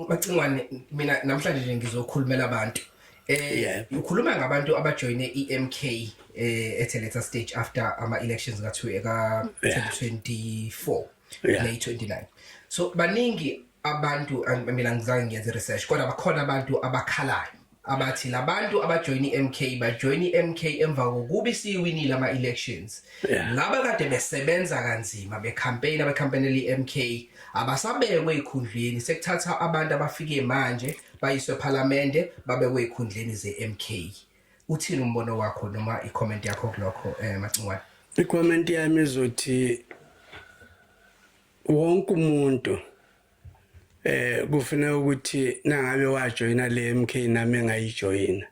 Macingwane mina namhlanje nje ngizokhulumela abantu. Eh ukhuluma ngabantu abajoyine iMK eh ethe later stage after ama elections ka 2024 May 29. So baningi abantu mina ngizange ngiyenze research kodwa bakhona abantu abakhalayo abathi labantu abajoyina iMK bajoyina iMK emva kokuba isiwinile ama elections yeah. laba kade besebenza kanzima be campaign abe campaign iMK abasabekwe ekhundleni sekuthatha abantu abafike manje bayiswe eParliament babekwe ekhundleni zeMK uthini umbono wakho noma icomment yakho kulokho eh Macingwane icomment yami izothi wonke umuntu eh kufuneka ukuthi nangabe wajoyina le MK nami engayijoyina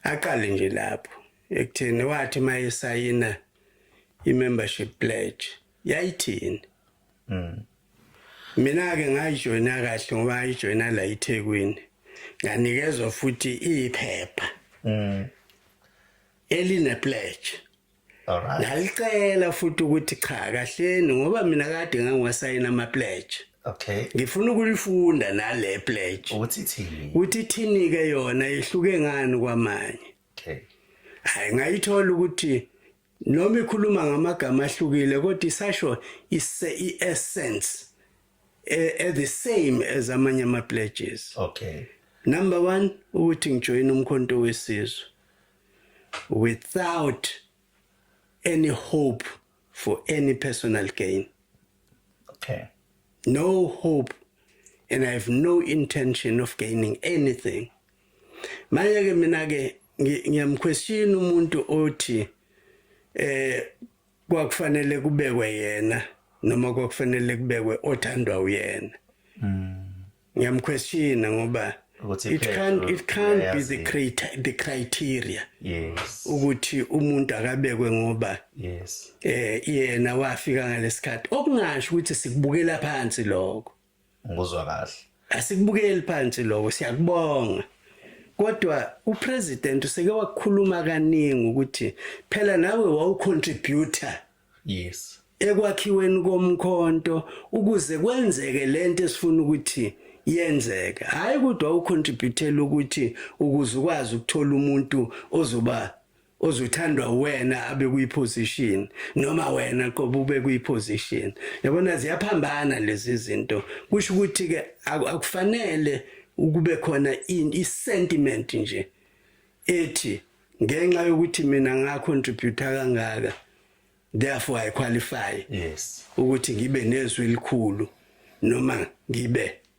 aqale nje lapho ekutheni wathi mayesayina i-membership pledge yayithini mm. mina-ke ngayijoyina kahle ngoba ngayijoyina la ithekwini nganikezwa futhi iyiphepha mm. eline-pledge Alright. Ngalicela futhi ukuthi cha kahleni ngoba mina kade ngangiwasayina ama pledge. Okay. Ngifuna ukulifunda nale pledge. Uthi thini? Uthi thini ke yona ihluke ngani kwamanye? Okay. Hayi ngayithola ukuthi noma ikhuluma ngamagama ahlukile kodwa isasho ise i-essence eh, eh the same as amanye ama pledges. Okay. Number 1 ukuthi ngijoyina umkhonto wesizwe. without any hope for any personal gain. Okay. No hope and I have no intention of gaining anything. Manje ke mina ke ngiyamquestion umuntu othi eh kwakufanele kubekwe yena noma kwakufanele kubekwe othandwa uyena. Mm. ngiyamquestiona ngoba it can't it can't be the creator the criteria yes ukuthi umuntu akabekwe ngoba yes eh yena wafika ngalesikhathi okungasho ukuthi sikubukela phansi lokho ngizwa kahle asikubukeli phansi lokho siyakubonga kodwa upresident useke wakhuluma kaningi ukuthi phela nawe wawucontributor Yes. Ekwakhiweni komkhonto ukuze kwenzeke lento esifuna ukuthi yenzeke. Hayi kodwa ucontributela ukuthi ukuze ukwazi ukuthola umuntu ozoba ozothandwa wena abe kuyiposition noma wena qoba ube kuyiposition yabona ziyaphambana lezi zinto kusho ukuthi ke akufanele ukube khona i sentiment nje ethi ngenxa yokuthi mina nga contribute kangaka therefore i qualify yes ukuthi ngibe nezwi elikhulu noma ngibe